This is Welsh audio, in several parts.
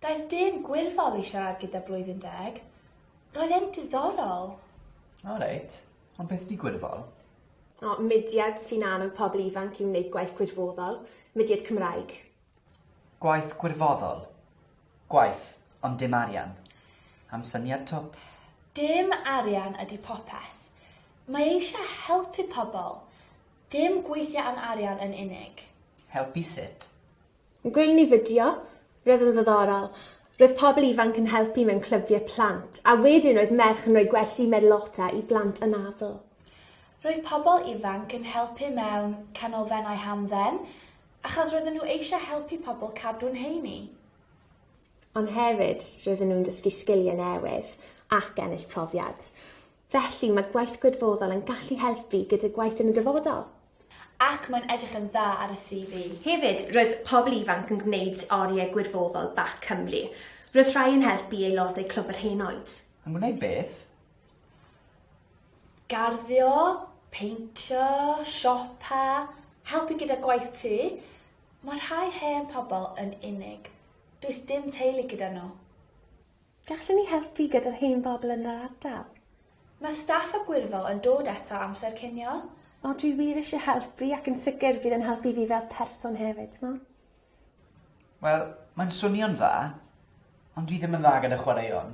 Daeth dyn gwirfoddol i siarad gyda Blwyddyn Deg. Roedd e'n diddorol. O reit. Ond beth ydi gwirfoddol? O, mudiad sy'n annog pobl ifanc i wneud gwaith gwirfoddol, mudiad Cymraeg. Gwaith gwirfoddol. Gwaith, ond dim arian. Am syniad twp. Dim arian ydy popeth. Mae eisiau helpu pobl. Dim gweithio am arian yn unig. Helpu sut? Gwnawn ni fideo. Roedd yn ddiddorol. Roedd pobl ifanc yn helpu mewn clybiau plant, a wedyn roedd merch yn rhoi gwersi Merlota i blant anabl. Roedd pobl ifanc yn helpu mewn canolfennau hamdden. Achos roedden nhw eisiau helpu pobl cadw'n heini. Ond hefyd, roedden nhw'n dysgu sgiliau newydd ac ennill profiad. Felly, mae gwaith gwirfoddol yn gallu helpu gyda gwaith yn y dyfodol. Ac mae'n edrych yn dda ar y CV. Hefyd, roedd pobl ifanc yn gwneud oriau gwirfoddol bac Cymru. Roedd rhai yn helpu aelodau Clwb yr Henoed. Yn gwneud beth? Garddio, peintio, siopa, helpu gyda gwaith tŷ, mae rhai hen pobl yn unig. Does dim teulu gyda nhw. Gallwn ni helpu gyda'r hen bobl yn yr ardal? Mae staff a gwirfoddol yn dod eto amser cinio. O, dwi wir eisiau helpu ac yn sicr bydd yn helpu fi fel person hefyd, t'mo'? Wel, mae'n swnio'n dda, ond dwi ddim yn dda gyda chwaraeon,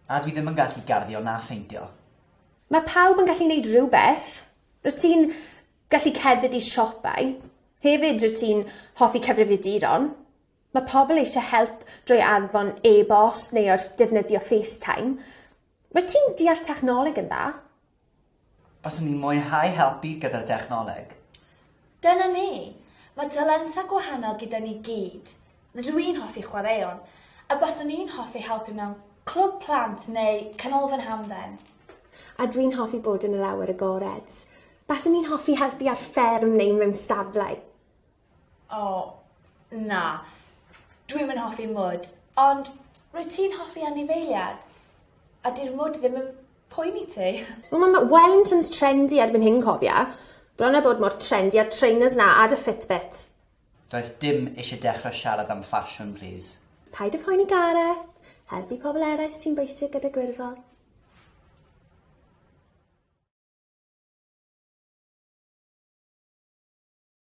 a dwi ddim yn gallu garddio na pheintio. Mae pawb yn gallu neud rhywbeth. Rwyt ti'n gallu cerdded i siopau. Hefyd, rwyt ti'n hoffi cyfrifiaduron. Mae pobl eisiau help drwy anfon e-bost neu wrth defnyddio FaceTime. Wyt ti'n deall technoleg yn dda? Baswn i'n mwynhau helpu gyda dechnoleg. Dyna ni! Mae talentau gwahanol gyda ni gyd. Rydw i'n hoffi chwaraeon, a baswn i'n hoffi helpu mewn clwb plant neu canolfan hamdden. A dwi'n hoffi bod yn yr awyr agored. Baswn i'n hoffi helpu ar fferm neu mewn stablau. O, na. Dwi'm yn hoffi mwd. Ond rwyt ti'n hoffi anifeiliad. A 'di'r mwd ddim yn poeni ti. Wel ma ma Wellingtons trendy erbyn hyn cofia. Bron a bod mor trendy a'r trainers 'na a dy fitbit. Does dim isie dechre siarad am ffasiwn plîs. Paid a phoeni Gareth. Helpu pobl eraill sy'n bwysig gyda gwirfodd.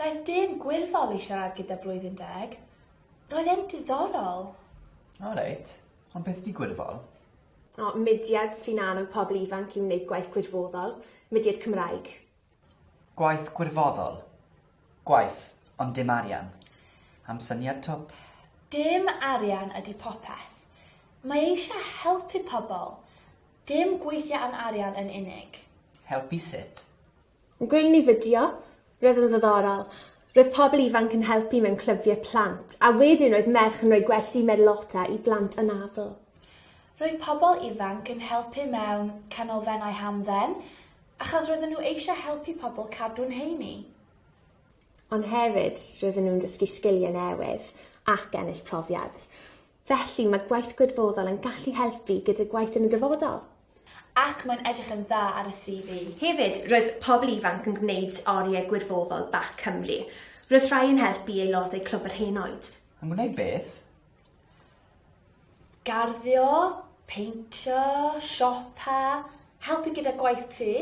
Daeth dyn gwirfoddol i siarad gyda Blwyddyn Deg. Roedd e'n diddorol. O reit, ond beth ydi gwirfoddol? O, mudiad sy'n annog pobl ifanc i wneud gwaith gwirfoddol, mudiad Cymraeg. Gwaith gwirfoddol. Gwaith, ond dim arian. Am syniad twp. Dim arian ydy popeth. Mae eisiau helpu pobl. Dim gweithio am arian yn unig. Helpu sut? Gwelwn ni fideo. Roedd yn ddiddorol. Roedd pobl ifanc yn helpu mewn clybiau plant, a wedyn roedd merch yn rhoi gwersi Merlota i blant anabl. Roedd pobl ifanc yn helpu mewn canolfennau hamdden, Achos roedden nhw eisiau helpu pobl cadw'n heini. Ond hefyd, roedden nhw'n dysgu sgiliau newydd ac ennill profiad. Felly, mae gwaith gwirfoddol yn gallu helpu gyda gwaith yn y dyfodol. Ac mae'n edrych yn dda ar y CV. Hefyd, roedd pobl ifanc yn gwneud oriau gwirfoddol bac Cymru. Roedd rhai yn helpu aelodau Clwb yr Henoed. Yn gwneud beth? Garddio, peintio, siopa, helpu gyda gwaith tŷ,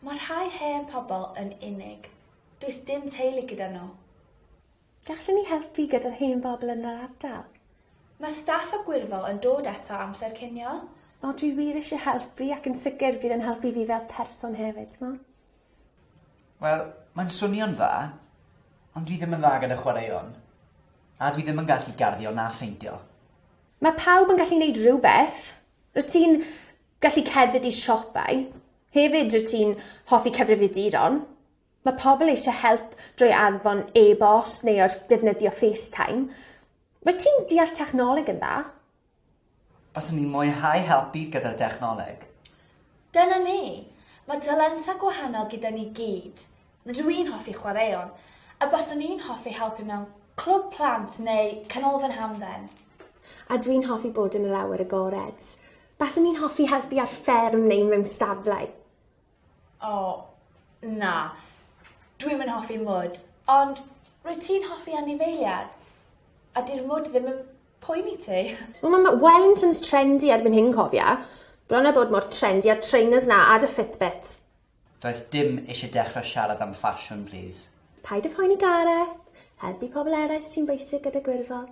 mae rhai hen pobl yn unig. Does dim teulu gyda nhw. Gallwn ni helpu gyda'r hen bobl yn yr ardal? Mae staff a gwirfol yn dod eto amser cinio. O, dwi wir eisiau helpu ac yn sicr bydd yn helpu fi fel person hefyd, t'mo'? Wel, mae'n swnio'n dda, ond dwi ddim yn dda gyda chwaraeon. A dwi ddim yn gallu garddio na pheintio. Mae pawb yn gallu neud rhywbeth. Rwyt ti'n gallu cerdded i siopau. Hefyd rwyt ti'n hoffi cyfrifiaduron. Mae pobl eisiau help drwy anfon e-bost neu wrth defnyddio FaceTime. Rwyt ti'n deall technoleg yn dda. Baswn i'n mwynhau helpu gyda'r dechnoleg. Dyna ni! Mae talentau gwahanol gyda ni gyd. Rydw i'n hoffi chwaraeon, a baswn i'n hoffi helpu mewn clwb plant neu canolfan hamdden. A dwi'n hoffi bod yn yr awyr agored. Baswn i'n hoffi helpu ar fferm neu mewn stablau. O, na. Dwi'm yn hoffi mwd. Ond rwyt ti'n hoffi anifeiliaid. A 'di'r mwd ddim yn poeni ti. Wel ma ma Wellington's trendy erbyn hyn cofia. Bron a bod mor trendy a'r trainers 'na a dy fitbit. Does dim isie dechre siarad am ffasiwn plîs. Paid a phoeni Gareth. Helpu pobl eraill sy'n bwysig gyda gwirfoddol.